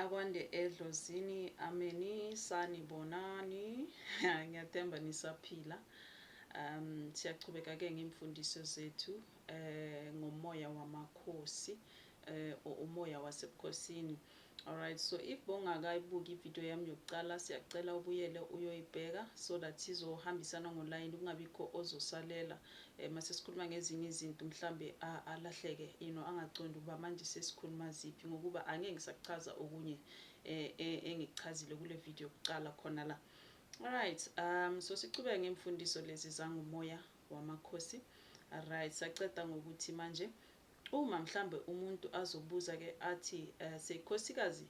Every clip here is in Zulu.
Akwande edlozini ameni sanibonani ngiyathemba nisaphila um siyachubeka ke ngemfundiso zethu eh ngomoya wamakhosi eh umoya wasebukhosini alright so if bongakayibuki ivideo yami yokuqala siyacela ubuyele uyoyibheka so that sizohambisana ngolayini kungabikho ozosalela eh, mase sikhuluma ngezinye izinto mhlambe alahleke you know angacondi ukuba manje sesikhuluma ziphi ngokuba angeke ngisakuchaza okunye eh, eh, engikuchazile kule video kuqala khona la alright um so sichubeke ngemfundiso lezi zangumoya wamakhosi alright saceda ngokuthi manje uma mhlambe umuntu azobuza ke athi uh, sekhosikazi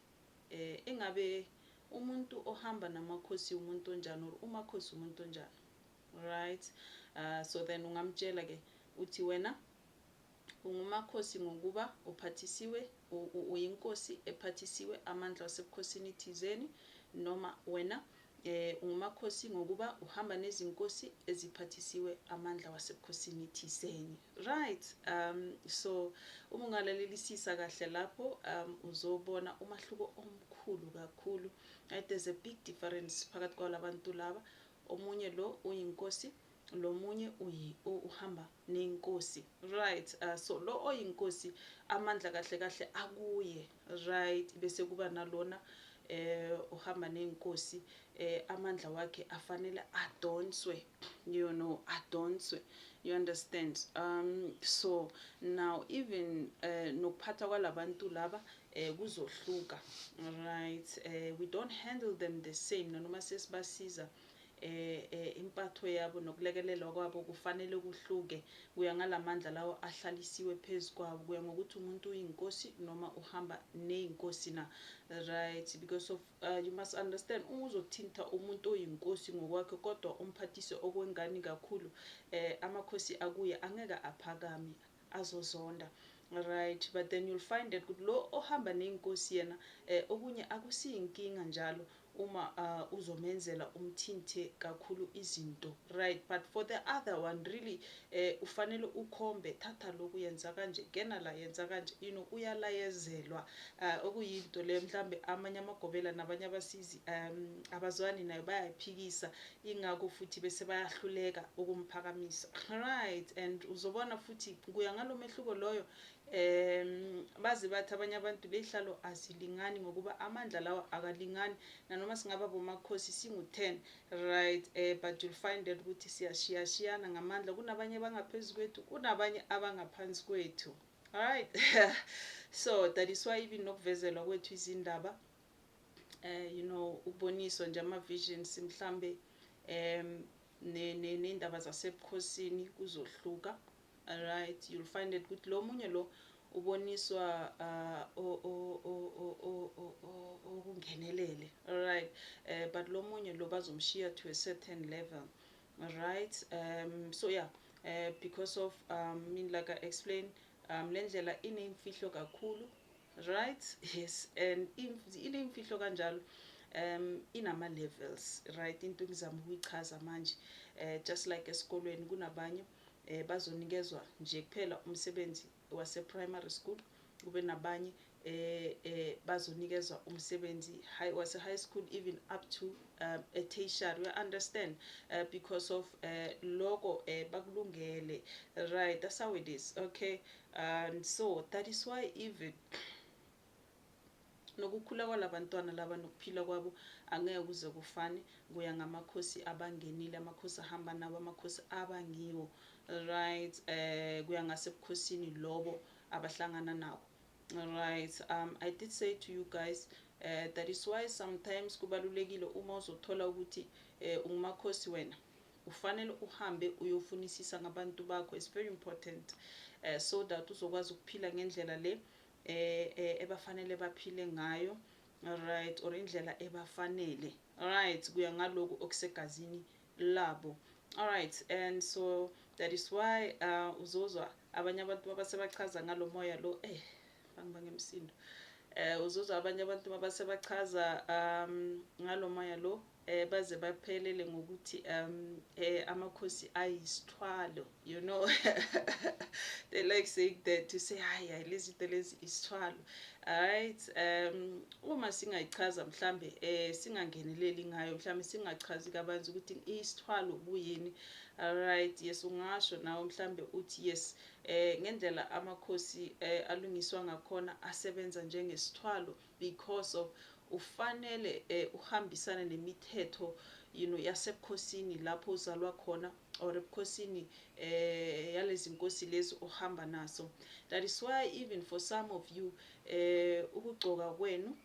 eh engabe umuntu ohamba namakhosi umuntu onjani or umakhosi umuntu onjani Right uh, so then ungamtshela ke uthi wena ungumakhosi ngokuba uphathisiwe uyinkosi ephathisiwe amandla wasebukhosini thizeni noma wena eh ungumakhosi ngokuba uhamba nezinkosi eziphathisiwe amandla wasebukhosini thiseni right um so uma ungalalelisisa kahle lapho um uzobona umahluko omkhulu kakhulu right there's a big difference phakathi kwalabantu laba Omunye lo uyinkosi lomunye uyi uhamba nenkosi right uh, so lo oyinkosi amandla kahle kahle akuye right bese kuba nalona eh uhamba nenkosi eh amandla wakhe afanele adonswe you know adonswe you understand um so now even eh nokuphatha kwalabantu laba eh kuzohluka right eh we don't handle them the same nanoma sesibasiza eh, eh impatho yabo nokulekelelwa kwabo kufanele kuhluke kuya ngalamandla lawo ahlalisiwe phezu kwabo kuya ngokuthi umuntu uyinkosi noma uhamba neyinkosi na right because of uh, you must understand uma uzothinta umuntu oyinkosi ngokwakhe kodwa umphathise okwengani kakhulu eh amakhosi akuye angeke aphakame azozonda right but then you'll find that ukuthi lo ohamba ney'nkosi yena eh, okunye akusiyinkinga njalo uma uh, uzomenzela umthinthe kakhulu izinto right but for the other one really eh, ufanele ukhombe thatha lokhu yenza kanje gena la yenza kanje you know uyalayezelwa uh, okuyinto leyo mhlawumbe amanye amagobela nabanye abasizi um abazwani nayo bayayiphikisa Ingakho futhi bese bayahluleka ukumphakamisa. Right and uzobona futhi kuya ngalomehluko loyo um baze bathi abanye abantu leyhlalo azilingani ngokuba amandla lawa akalingani nanoma singaba bomakhosi singu-10 right um but you'll find that ukuthi siyashiyashiyana ngamandla kunabanye abangaphezu kwethu kunabanye abangaphansi kwethu right so that is why even nokuvezelwa kwethu izindaba eh you know ukuboniswa nje ama visions mhlambe um nendaba zasebukhosini kuzohluka alright you'll find it ukuthi lo munye lo uboniswa okungenelele uh, alright eh, but lo munye lo bazomshiya to a certain level alright um so yeah eh, because of um mean like i explain um lendlela inemfihlo kakhulu Right yes and ilimfihlo kanjalo um inama levels right into ngizama ukuyichaza manje eh just like esikolweni kunabanye eh bazonikezwa nje kuphela umsebenzi wase primary school kube nabanye eh eh bazonikezwa umsebenzi high wase high school even up to um, a tertiary you understand uh, because of uh, eh, logo eh bakulungele right that's how it is okay and so that is why even nokukhula kwalabantwana laba nokuphila kwabo angeke kuze kufane kuya ngamakhosi abangenile amakhosi ahamba nabo amakhosi abangiwo right eh kuya ngasebukhosini lobo abahlangana nabo right um i did say to you guys uh, that is why sometimes kubalulekile uma uzothola ukuthi uh, ungumakhosi wena Kufanele uhambe uyofunisisa ngabantu bakho it's very important so that uzokwazi ukuphila ngendlela le ebafanele baphile ngayo right or indlela ebafanele right kuya ngaloku okusegazini labo alright and so that is why uh, uzozwa abanye abantu babasebachaza ngalomoya lo eh bangiba ngemsindo eh uzozwa abanye abantu babasebachaza um ngalomoya lo eh baze baphelele ngokuthi um eh amakhosi ayisithwalo you know they like saying that to say hayi hayi lezi into lezi isithwalo alright um uma singayichaza mhlambe eh singangeneleli ngayo mhlambe singachazi kabanzi ukuthi isithwalo kuyini alright yes ungasho nawe mhlambe uthi yes eh ngendlela amakhosi eh alungiswa ngakhona asebenza njengesithwalo because of ufanele eh, uhambisane nemithetho you know yasebukhosini lapho uzalwa khona or ebukhosini eh yalezi nkosi lezi ohamba naso that is why even for some of you eh ukugcoka kwenu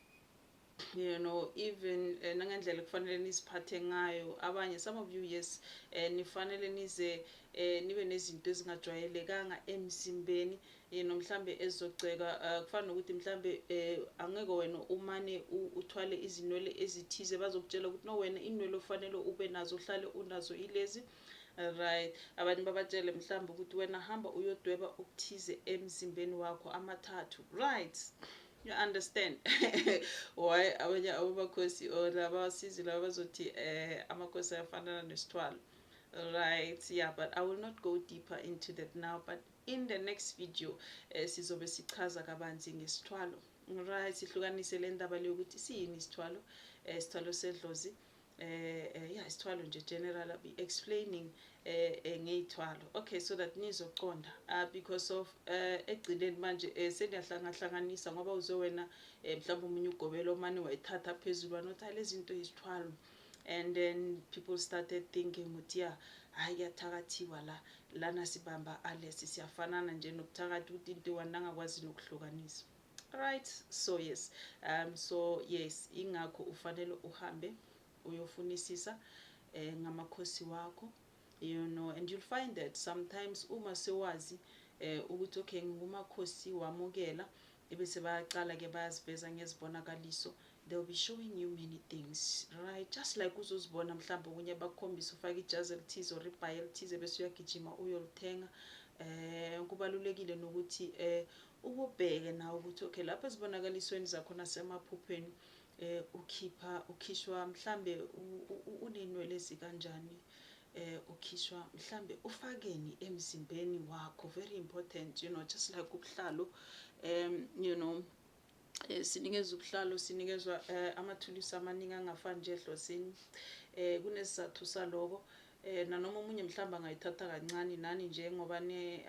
you know even eh, nangendlela kufanele niziphathe ngayo abanye some of you yes eh, nifanele nize eh, nibe nezinto ezingajwayelekanga emzimbeni you know mhlambe ezogceka uh, kufana nokuthi mhlambe uh, angeke wena umane uthwale izinwele ezithize bazokutshela ukuthi no wena inwele ofanele ube nazo uhlale unazo ilezi right abanye babatshele mhlawumbe ukuthi wena hamba uyodweba okuthize emzimbeni wakho amathathu right you understand why abanye abobakhosi or laba basizi laba bazothi eh amakhosi ayafanana nesithwalo right yeah but i will not go deeper into that now but In the next video sizobe sichaza kabanzi ngesithwalo. Right, sihlukanise le ndaba le yokuthi siyini isithwalo, eh, isithwalo sedlozi, eh, eh, ya isithwalo nje general, I'll be explaining eh, eh, ngeyithwalo. Okay, so that nizoqonda uh, because of eh, egcineni manje eh, seniyahlanganhlanganisa ngoba uze wena eh, mhlawumbe omunye ugobela omane wayithatha phezulu wanothi hhayi lezi zinto yizithwalo. and then people started thinking ukuthi ya hayi kuyathakathiwa la lana sibamba alesi siyafanana nje nokuthakatha ukuthi into iwani nangakwazi nokuhlukanisa right so yes um so yes ingakho ufanele uhambe uyofunisisa eh, ngamakhosi wakho you know and you'll find that sometimes uma sewazi eh, ukuthi okay ngingumakhosi wamukela Ebese bayaqala ke bayaziveza ngezibonakaliso they'll be showing you many things right just like uzozibona mhlawumbe okunye bakukhombisa ufake ijazi elithize or ibhayi elithize bese uyagijima uyolithenga um kubalulekile nokuthi um ukubheke nawe ukuthi okay lapho ezibonakalisweni zakho nasemaphupheni um ukhipha ukhishwa mhlambe unenwele ezikanjani Eh ukhishwa mhlambe ufakeni emzimbeni wakho very important you know just like ubuhlalo um you know eh sinikezwa ubuhlalo sinikezwa eh, amathulusi amaningi angafani nje edlosini eh kunesizathu saloko eh nanoma omunye mhlamba angayithatha kancane nani nje ngoba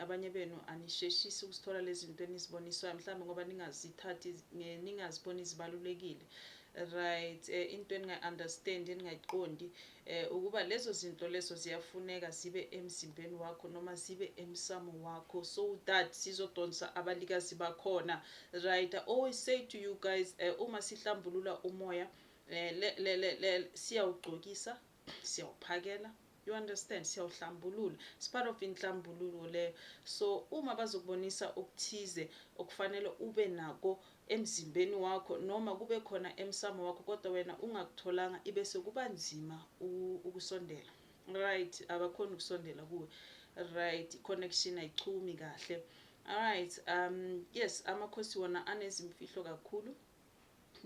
abanye benu anisheshisi ukusithola lezi zinto eniziboniswayo mhlawumbe ngoba ningazithathi ningaziboni zibalulekile right eh, into eningayi-understand eningayiqondi eh, ukuba lezo zinto lezo ziyafuneka zibe emzimbeni wakho noma zibe emsamo wakho so that sizodonsa abalikazi bakhona right I always say to you guys uh, uma sihlambulula umoya eh, le, le, le, le, siyawugcokisa siyawuphakela you understand siyawuhlambulula it's part of inhlambululo leyo so uma bazokubonisa okuthize okufanele ube nako emzimbeni wakho noma kube khona emsamo wakho kodwa wena ungakutholanga ibe sekuba nzima ukusondela right abakhona ukusondela kuwe right connection ayichumi kahle alright um yes amakhosi wona anezimfihlo kakhulu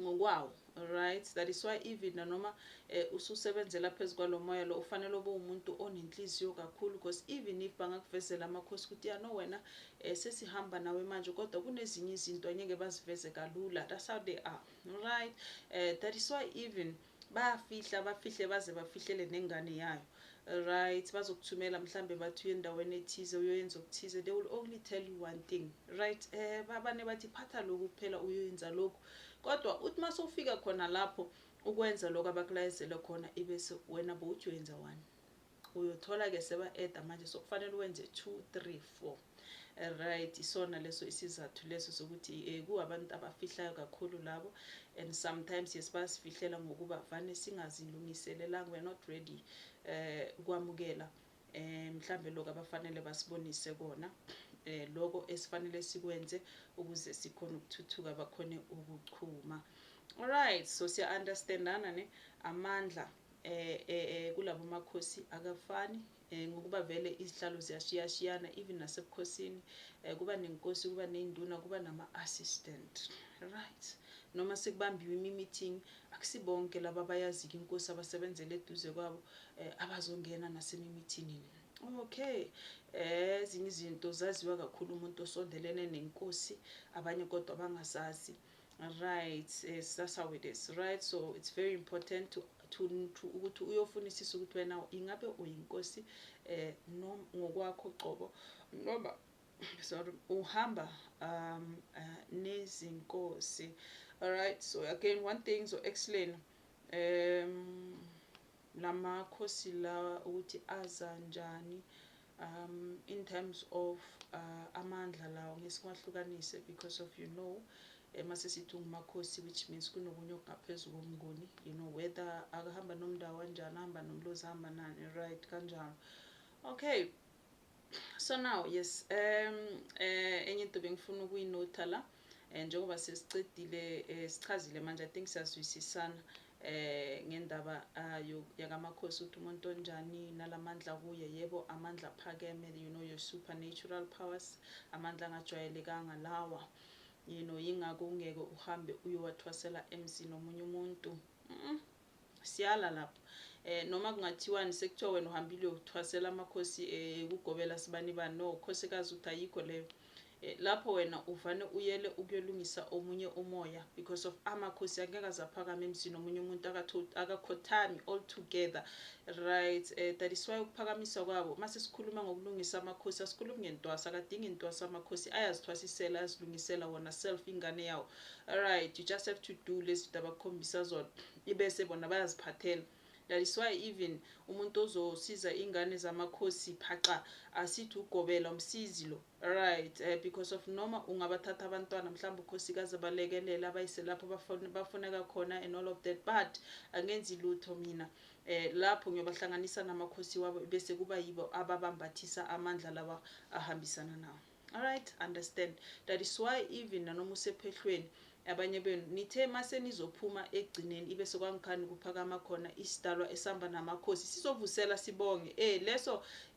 ngokwawo Alright that is why even nanoma eh, ususebenzela phezu kwalo moya lo ufanele ube umuntu onenhliziyo kakhulu because even if bangakuvezela amakhosi ukuthi ya no wena eh, sesihamba nawe manje kodwa kunezinye izinto angeke baziveze kalula that's how they are right eh, that is why even bayafihla bafihle baze bafihlele nengane yayo right bazokuthumela mhlambe bathi uyendaweni ethize uyoyenza okuthize they will only tell you one thing right eh babane bathi phatha lokhu kuphela uyoyenza lokhu Kodwa uthi masufika khona lapho ukwenza lokho abakulayezele khona ibese wena bowuthi uyenza one uyothola ke seba add manje sokufanele wenze 2 3 4 right isona leso isizathu leso sokuthi eh ku abantu abafihlayo kakhulu labo and sometimes yes basifihlela ngokuba vane singazilungiselelanga we are not ready eh kwamukela eh mhlambe lokho abafanele basibonise kona eh lokho esifanele sikwenze ukuze sikhona ukuthuthuka bakhone ukuchuma alright so siya understandana ne amandla eh, eh, eh kulabo makhosi akafani eh, ngokuba vele izihlalo ziyashiyashiyana even nasebukhosini eh, kuba nenkosi kuba neyinduna kuba nama assistant right noma sekubambiwe imi-meeting Akusibonke laba abayaziyo inkosi abasebenzela eduze kwabo eh, abazongena nasemimithini le. Okay. Eh ezinye izinto zaziwa kakhulu umuntu osondelene nenkosi, abanye kodwa bangazazi. Right, yes, that's how it is. Right, so it's very important to to ukuthi uyofunisisa ukuthi wena ingabe uyinkosi eh noma ngokwakho qobo noma sorry uhamba um uh, nezinkosi alright so again one thing so explain um lamakhosi lawa ukuthi aza njani um in terms of uh, amandla lawo ngesiwahlukanise because of you know uma eh, sesithi ungumakhosi which means kunokunye okungaphezulu komnguni you know whether akahamba nomndawo kanjani ahamba nomlozi ahamba nani right kanjalo okay So now yes um eh, enye into bengifuna ukuyinotha la eh, njengoba sesicedile eh, sichazile manje I think siyazwisisana eh ngendaba ayo ah, yakamakhosi ukuthi umuntu onjani nalamandla kuye yebo amandla phakeme you know your supernatural powers amandla angajwayelekanga lawa you know yingakho ungeke uhambe uyowathwasela emzini omunye umuntu mm -mm. Siyala lapho eh noma kungathiwani sekuthiwa wena uhambile uthwasela amakhosi eh, ekugobela sibanibani no khosikazi uthi ayikho leyo eh, lapho wena uvane uyele ukuyolungisa omunye umoya because of amakhosi angeke azaphakama emzini omunye umuntu akakhothami all together right eh, that is why ukuphakamiswa kwabo mase sikhuluma ngokulungisa amakhosi asikhulumi ngentwasa akadingi intwasa amakhosi ayazithwasisela ayazilungisela wona self ingane yawo Alright you just have to do lezinto abakukhombisa zona ibese bona bayaziphathela that is why even umuntu ozosiza ingane zamakhosi phaqa asithi ugobela umsizi lo right uh, because of noma ungabathatha abantwana mhlawumbe ukhosikazi abalekelela abayise lapho bafuneka khona and all of that but angenzi lutho mina eh lapho ngiyobahlanganisa namakhosi wabo bese kuba yibo ababambathisa amandla lawa ahambisana nawo Alright understand that is why even nanoma usephehlweni abanye benu nithe mase nizophuma ekugcineni ibe sekwangikhani kuphakama khona isidalwa esihamba namakhosi sizovusela sibonge eh leso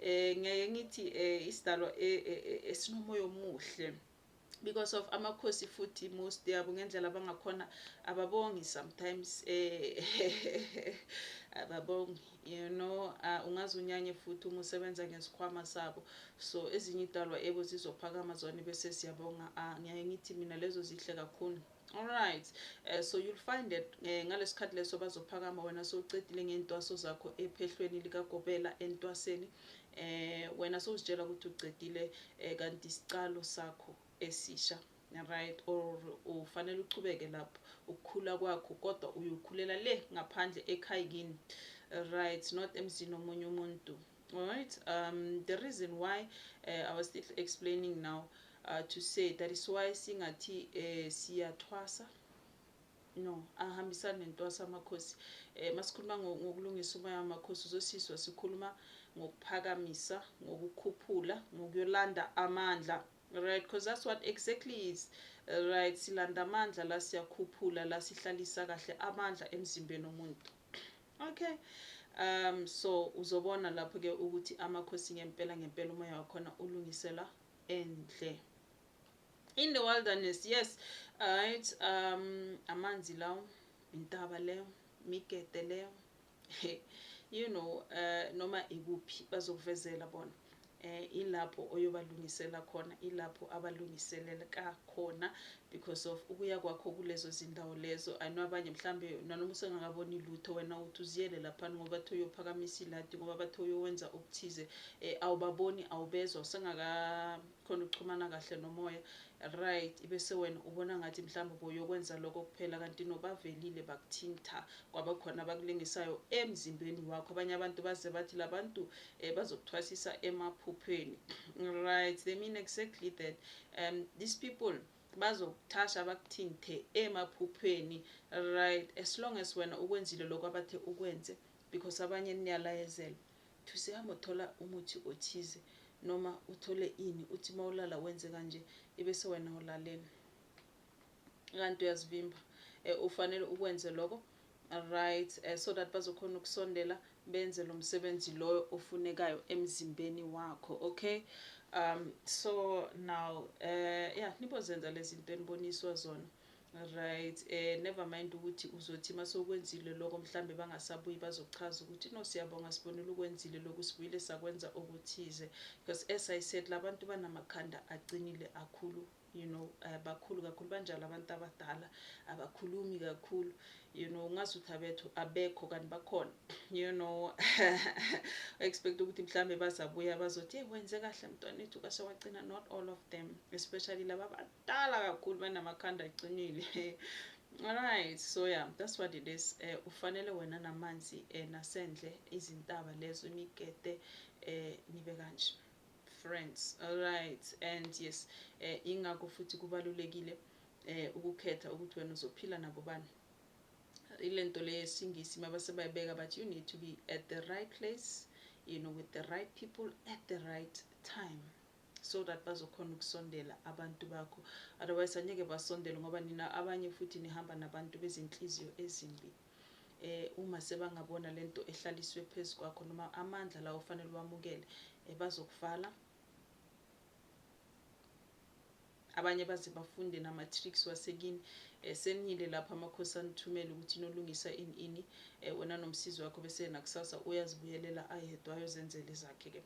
eh ngeke ngithi eh isidalwa eh, eh, eh, esinomoya omuhle because of amakhosi futhi most yabo ngendlela abangakhona ababongi sometimes eh ababongi You know ah ungaze unyanye futhi uma usebenza ngesikhwama sabo so ezinye idalwa ebo zizophakama zone bese siyabonga ah ngiyaye ngithi mina lezo zihle kakhulu Alright, uh, so you'll find that uh, eh, ngalesikhathi leso bazophakama wena sowucedile ngey'ntwaso zakho ephehlweni likagobela entwaseni eh wena sowuzitshela ukuthi ucedile eh, kanti isicalo sakho esisha right or ufanele uchubeke lapho ukukhula kwakho kodwa uyokhulela le ngaphandle ekhaya kini right not emzini omunye umuntu right um the reason why uh, i was still explaining now uh, to say that is why singathi uh, siyathwasa no ahambisani nentwasa amakhosi eh masikhuluma ngokulungisa umoya wamakhosi uzosizwa sikhuluma ngokuphakamisa ngokukhuphula ngokuyolanda amandla Right cause that's what exactly is right silanda amandla la siyakhuphula la sihlalisa kahle amandla emzimbeni omuntu okay um so uzobona lapho ke ukuthi amakhosi ngempela ngempela umoya wakhona ulungisela endle in the wilderness yes right um amanzi lawo intaba leyo migede leyo You know noma ikuphi bazokuvezela bona eh ilapho oyobalungisela khona ilapho abalungiselelka khona because of ukuya kwakho kulezo zindawo lezo I know abanye mhlambe nanoma usengakaboni lutho wena uthi uziyele lapha ngoba bathi uyophakamisa iladi ngoba bathi uyowenza okuthize eh awubaboni awubezwa usengaka khona uxhumana kahle nomoya right ibese wena ubona ngathi mhlawumbe uboyokwenza lokho kuphela kanti nobavelile bakuthintha kwaba khona abakulingisayo emzimbeni wakho abanye abantu baze bathi labantu um eh, bazokuthwasisa emaphupheni right they mean exactly that um these people bazokuthasha bakuthinte emaphupheni right as long as wena ukwenzile lokho abathe ukwenze because abanye niyalayezela Uthi usehamba uthola umuthi othize noma uthole ini uthi mawulala wenze kanje ibese wena ulaleni kanti uyazivimba eh, ufanele ukwenze lokho right eh, so that bazokhona ukusondela benze lo msebenzi loyo ofunekayo emzimbeni wakho okay um so now eh yeah nibozenza lezi zinto eniboniswa zona Right eh never mind ukuthi uzothi masokwenzile lokho mhlambe bangasabuyi bazochaza ukuthi no siyabonga sibonile ukwenzile lokhu sibuyile sakwenza okuthize because as i said labantu banamakhanda aqinile akhulu you know uh, bakhulu kakhulu banjalo abantu abadala abakhulumi kakhulu you know ungazi ukuthi abethu abekho kanti bakhona you know expect ukuthi mhlambe bazabuya bazothi hey wenze kahle mntwana ethu kase wagcina not all of them especially laba bantu kudala kakhulu banamakhanda aqinile alright so yeah that's what it is eh ufanele wena namanzi eh nasendle izintaba lezo imigede eh nibe kanje friends alright and yes eh ingakho futhi kubalulekile eh ukukhetha ukuthi wena uzophila nabo bani ile nto le yesingisi mabasebayibeka but you need to be at the right place you know with the right people at the right time so that bazokhona ukusondela abantu bakho otherwise anyeke basondele ngoba nina abanye futhi nihamba nabantu bezinhliziyo ezimbi eh uma sebangabona lento ehlaliswe phezulu kwakho noma amandla lawo fanele wamukele eh, bazokuvala Abanye baze bafunde nama tricks wasekini eh, senile lapho amakhosi anithumele ukuthi nolungisa ini ini eh, wena nomsizi wakho bese yena kusasa uyazibuyelela ayedwa ayozenzela ezakhe ke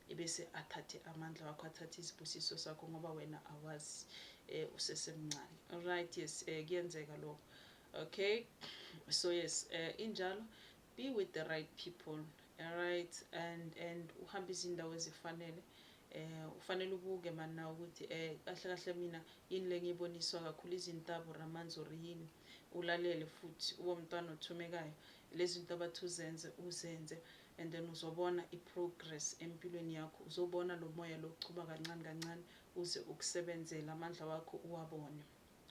ebese athathe amandla wakho athathe izibusiso sakho ngoba wena awazi eh, usesemncane alright yes eh, kuyenzeka lokho okay so yes eh, injalo Be with the right people alright and and uhambe izindawo ezifanele eh ufanele ubuke mana ukuthi eh kahle kahle mina yini lengiboniswa kakhulu izintabu ramanzi or yini ulalele futhi ube umntwana othumekayo lezi zinto abathi uzenze uzenze and then uzobona i-progress empilweni yakho uzobona lo moya lochuba kancane kancane uze ukusebenzele amandla wakho uwabone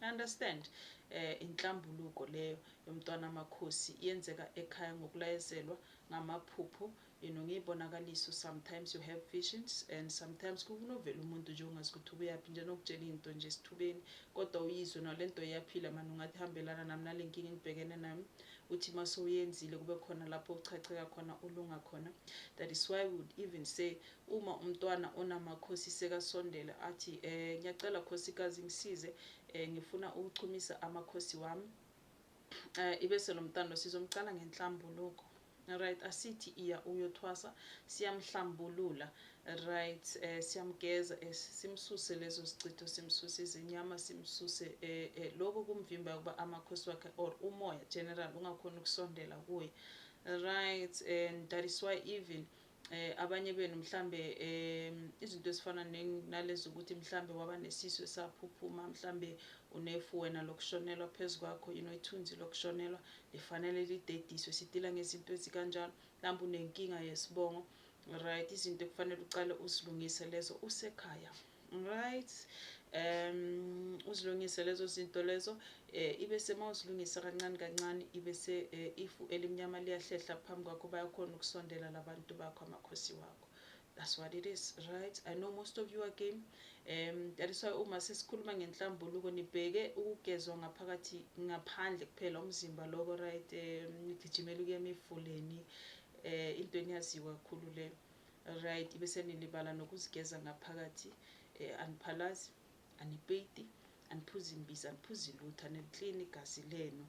I understand eh inhlambuluko leyo yomntwana amakhosi yenzeka ekhaya ngokulayezelwa ngamaphupho you know ngiyibonakaliso sometimes you have visions and sometimes kukunovela umuntu nje ungazi ukuthi ubuyaphi nje nokutshela into nje sithubeni kodwa uyizwe nalento iyaphila manje ungathi hambelana nami nalenkinga engibhekene nami uthi mase uyenzile kube khona lapho uchacheka khona ulunga khona that is why we would even say Uma umntwana onamakhosi sekasondela athi eh ngyacela khosikazi ngisize eh ngifuna ukuchumisa amakhosi wami eh ibese lomntwana sizomcala ngenhlambuluko right asithi iya uyothwasa siyamhlambulula right eh siyamgeza eh, simsuse lezo sicitho simsuse izinyama simsuse eh, eh lokho kumvimba ukuba amakhosi wakhe or umoya general ungakhona ukusondela kuye right and that is why even eh, abanye benu mhlambe um izinto ezifana nalezi ukuthi mhlambe waba nesisu esaphuphuma mhlambe unefu wena lokushonelwa phezu kwakho you know ithunzi lokushonelwa lifanele lidediswe sidila ngezinto ezikanjalo mhlawumbe unenkinga yesibongo right izinto ekufanele uqale uzilungise lezo usekhaya Right um uzilungise lezo zinto lezo eh ibe sema uzilungisa kancane kancane ibe se eh, ifu elimnyama liyahlehla phambi kwakho bayakhona ukusondela labantu bakho amakhosi wakho that's what it is right i know most of you are game um that is why uma sesikhuluma ngenhlambuluko nibheke ukugezwa ngaphakathi ngaphandle kuphela umzimba loko right um nigijimela ukuya emifuleni eh into eniyaziwa kakhulu le Ryt bese nilibala nokuzigeza ngaphakathi eh, aniphalazi anipeyiti aniphuzi imbiza aniphuzi lutho aniliklini igazi lenu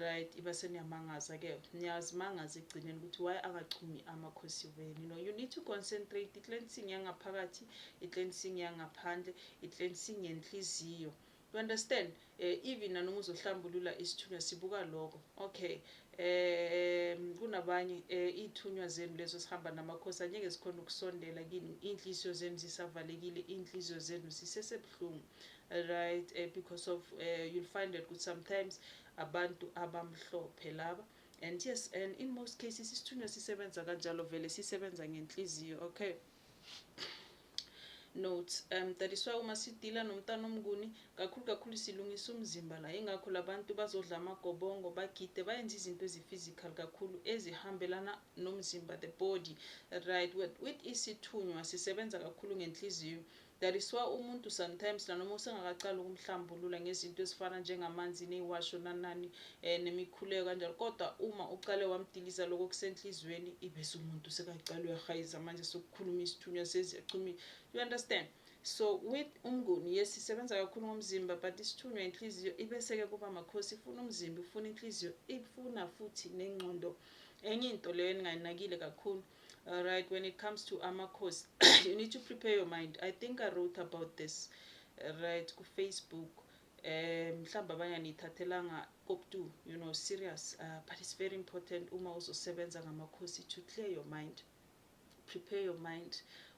right iba seniyamangaza ke niyazimangaza ekugcineni ukuthi why angachumi amakhosi wenu you know you need to concentrate i-cleansing yangaphakathi i-cleansing yangaphandle i-cleansing yenhliziyo You understand eh even nanoma uzohlambulula isithunywa sibuka lokho okay um kunabanye eh ithunywa zenu lezo sihamba namakhosi anyeke sikhona ukusondela kini inhliziyo zenu zisavalekile inhliziyo zenu zisesebhlungu right eh, because of eh, you'll find that ukuthi sometimes abantu abamhlophe laba and yes and in most cases isithunywa sisebenza kanjalo vele sisebenza ngenhliziyo okay Notes, um, Dadiswa uma sidila nomntana omnguni, kakhulu kakhulu silungisa umzimba la. Ingakho labantu bazodla amagobongo, bagide, bayenze izinto ezi-physical kakhulu ezihambelana nomzimba, the body. Right, with, with isithunywa sisebenza kakhulu ngenhliziyo. That is why umuntu sometimes nanoma usengakacali ukumhlambulula ngezinto ezifana njengamanzi neyiwasho nanani eh, nemikhuleko kanjalo kodwa uma ucale wamdiliza lokho kusenhliziyweni ibese umuntu sekacala uyahayiza manje sokukhuluma isithunywa seziyachumile you understand so with umnguni yes isebenza kakhulu ngomzimba but isithunywa inhliziyo ibeseke kuba makhosi ifuna umzimba ifuna inhliziyo ifuna futhi nengqondo enye into leyo eningayinakile kakhulu Alright, when it comes to amakhosi, you need to prepare your mind. I think I wrote about this right ku Facebook. Um, mhlawumbe abanye aniyithathelanga kokutu you know serious uh, but it's very important uma uzosebenza ngamakhosi to clear your mind prepare your mind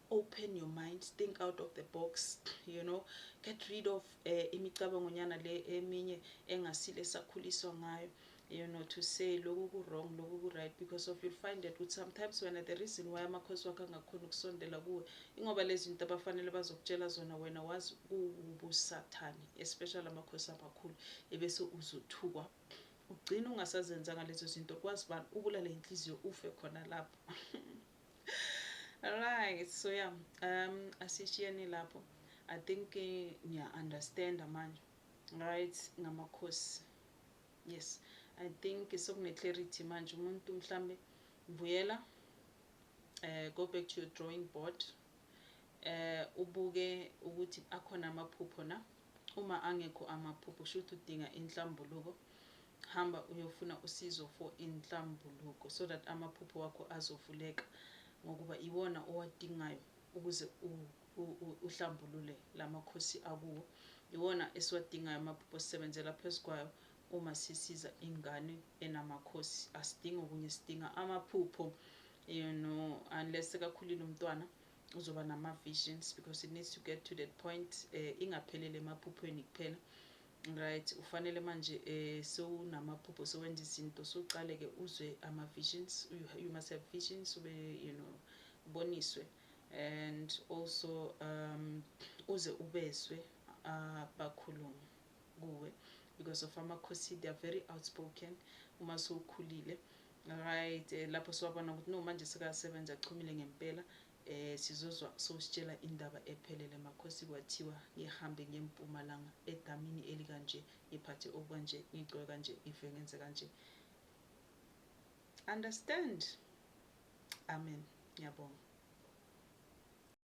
open your mind think out of the box you know get rid of uh, imicabangonyana le eminye engasile sakhuliswa ngayo you know to say loku ku wrong loku ku right because of you'll find that ukuthi sometimes wena the reason why amakhosi wakho angakhona ukusondela kuwe ingoba lezi zinto abafanele bazokutshela zona wena wazi kuwubusathane especially amakhosi amakhulu ebese uzothukwa ugcina ungasazenzanga lezo zinto kwazi bani ubulale inhliziyo ufe khona lapho right so yeah um asishiyeni lapho i think eh, niya understand manje right ngamakhosi Yes I think sekune clarity manje umuntu mhlambe buyela eh go back to your drawing board eh ubuke ukuthi akhona amaphupho na uma angekho amaphupho shuthi udinga inhlambuluko hamba uyofuna usizo for inhlambuluko so that amaphupho wakho azovuleka ngokuba iwona owadingayo ukuze uhlambulule la makhosi akuwo iwona esiwadingayo amaphupho sisebenzela phezu kwayo uma sisiza ingane enamakhosi asidingi okunye sidinga amaphupho you know unless sekakhulile umntwana uzoba nama-visions because it needs to get to that point eh, ingaphelele emaphuphweni kuphela right ufanele manje eh sewunamaphupho sewenza izinto soqale ke uzwe ama visions you, you must have visions ube you know boniswe and also um uze ubezwe abakhulumi kuwe because of amakhosi they are very outspoken uma sowukhulile right eh, lapho siwabona ukuthi no manje sekasebenza achumile ngempela eh sizozwa sositshela indaba ephelele makhosi kwathiwa ngihambe ngempumalanga edamini elikanje ngiphathe okwanje ngigcoke kanje ngive ngenze kanje Understand Amen ngiyabonga.